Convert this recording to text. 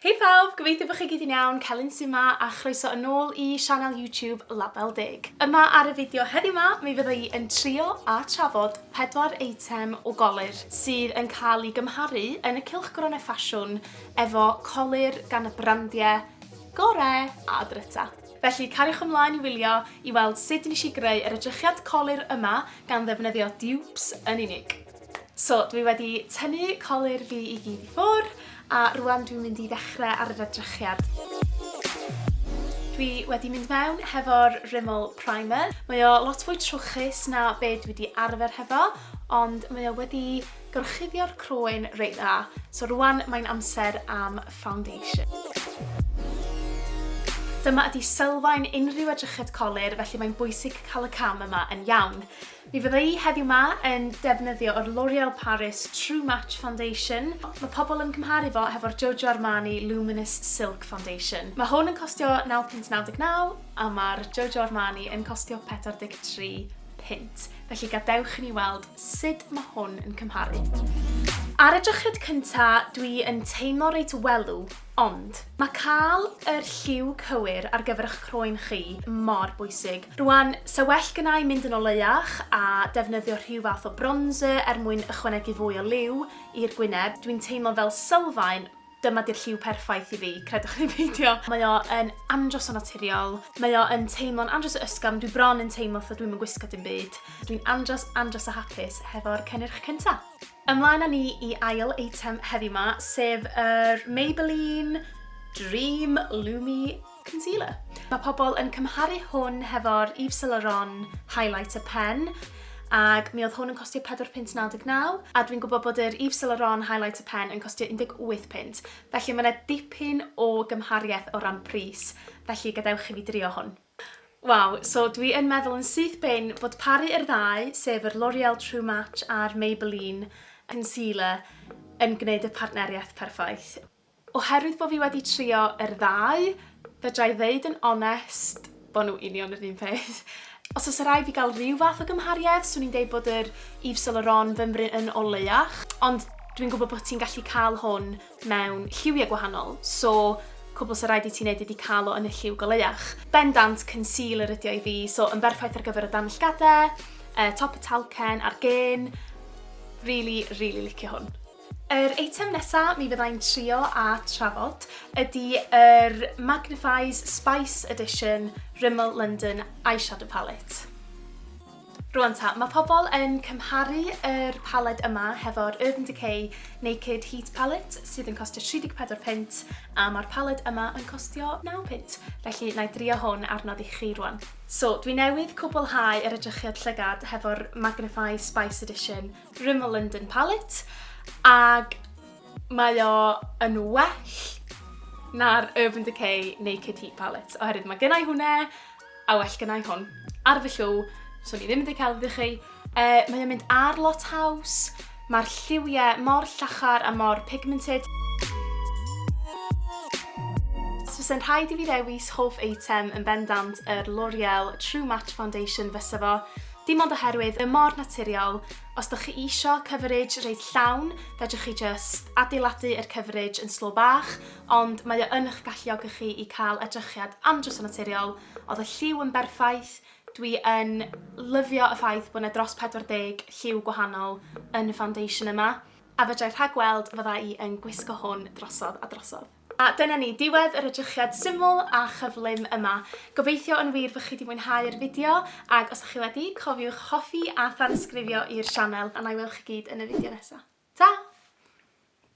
Hei phawb, gobeithio bod chi gyd yn iawn, Celyn sy 'ma a chroeso yn ôl i sianel YouTube Label Deg. Yma ar y fideo heddiw 'ma mi fydda i yn trio a trafod pedwar eitem o golyr sydd yn cael eu gymharu yn y cylchgronau ffasiwn efo colyr gan y brandiau gorau a dryta. Felly cariwch ymlaen i wylio i weld sut nes i greu yr edrychiad colyr yma gan ddefnyddio dupes yn unig. So, dwi wedi tynnu colur fi i gyd i ffwr, a rwan dwi'n mynd i ddechrau ar yr edrychiad. Dwi wedi mynd mewn hefo'r Rimmel Primer. Mae o lot fwy trwchus na be dwi wedi arfer hefo, ond mae o wedi gorchuddio'r croen reit dda. So rwan mae'n amser am foundation. Dyma ydi sylfaen unrhyw edrychiad colur, felly mae'n bwysig cael y cam yma yn iawn. Mi fydda i heddiw 'ma yn defnyddio yr L'Oreal Paris True Match Foundation. Mae pobl yn cymharu fo hefo'r Giorgio Armani Luminous Silk Foundation. Mae hwn yn costio naw punt naw deg naw a mae'r Giorgio Armani yn costio pedwar deg tri punt. Felly gadewch i ni weld sut mae hwn yn cymharu. Ar y drychyd cynta, dwi yn teimlo reit welw, Ond, mae cael yr lliw cywir ar gyfer eich croen chi mor bwysig. Rwan, se well gynna i mynd yn oleuach a defnyddio rhyw fath o bronzer er mwyn ychwanegu fwy o liw i'r gwyneb. Dwi'n teimlo fel sylfaen, dyma di'r lliw perffaith i fi, credwch neu beidio. Mae o yn andros o naturiol, mae o yn teimlo'n andros o ysgafn, dwi bron yn teimlo fatha dwi'm yn gwisgo dim byd. Dwi'n andros, andros o hapus hefo'r cynnyrch cynta. Ymlaen â ni i ail eitem heddi ma, sef yr Maybelline Dream Lumi Concealer. Mae pobl yn cymharu hwn hefo'r Yves Saint Laurent Highlighter Pen, ac mi oedd hwn yn costio 4 pint 99, a dwi'n gwybod bod yr Yves Saint Laurent Highlighter Pen yn costio 18 pint, felly mae yna dipyn o gymhariaeth o ran pris, felly gadewch i fi drio hwn. Waw, so dwi yn meddwl yn syth bin bod paru yr ddau, sef yr L'Oreal True Match a'r Maybelline Concealer yn gwneud y partneriaeth perffaith. Oherwydd bod fi wedi trio yr ddau, fedra i ddeud yn onest bod nhw union yr un peth. Os oes rhaid fi gael rhyw fath o gymhariaeth, swn i'n deud bod yr Yves Saint Laurent fymryn yn oleuach, ond dwi'n gwybod bod ti'n gallu cael hwn mewn lliwiau gwahanol, so cwbl sa raid i ti neud ydi cael o yn y lliw goleuach. Bendant concealer ydi o i fi, so yn berffaith ar gyfer y danllgade, yy top y talcen a'r gên. Rili, rili licio hwn. Yr eitem nesa mi fyddai'n trio a trafod ydi yr Magnifies Spice Edition Rimmel London Eyeshadow Palette. Rwan ta, mae pobl yn cymharu yr paled yma hefo'r Urban Decay Naked Heat Palette sydd yn costio 34 punt a mae'r paled yma yn costio 9 punt, felly na i drio hwn ar nod i chi rwan. So, dwi newydd cwblhau yr edrychiad llygad hefo'r Magnify Spice Edition Rimmel London Palette ag mae o yn well na'r Urban Decay Naked Heat Palette oherwydd mae gennau hwnna A well gynna i hwn. Ar fy llw, swn i ddim wedi cael ddych chi. Uh, mae o'n mynd ar lot haws. Mae'r lliwiau mor llachar a mor pigmented. Fysa'n rhaid i fi ddewis hoff eitem yn bendant yr L'Oreal True Match Foundation fysa fo, dim ond oherwydd y mor naturiol, os da chi isio coverage reit llawn, fedrwch chi just adeiladu yr coverage yn slo bach, ond mae o yn ych galluogi chi i cael edrychiad andros o naturiol, oedd y lliw yn berffaith, dwi yn lyfio y ffaith bod 'na dros 40 lliw gwahanol yn y foundation yma, a fedrai rhagweld fydda i yn gwisgo hwn drosodd a drosodd. A dyna ni, diwedd yr edrychiad syml a chyflym yma. Gobeithio yn wir fy chi 'di mwynhau yr fideo, ag os 'da chi wedi, cofiwch hoffi a thansgrifio i'r sianel, a 'na i weld chi gyd yn y fideo nesa. Ta!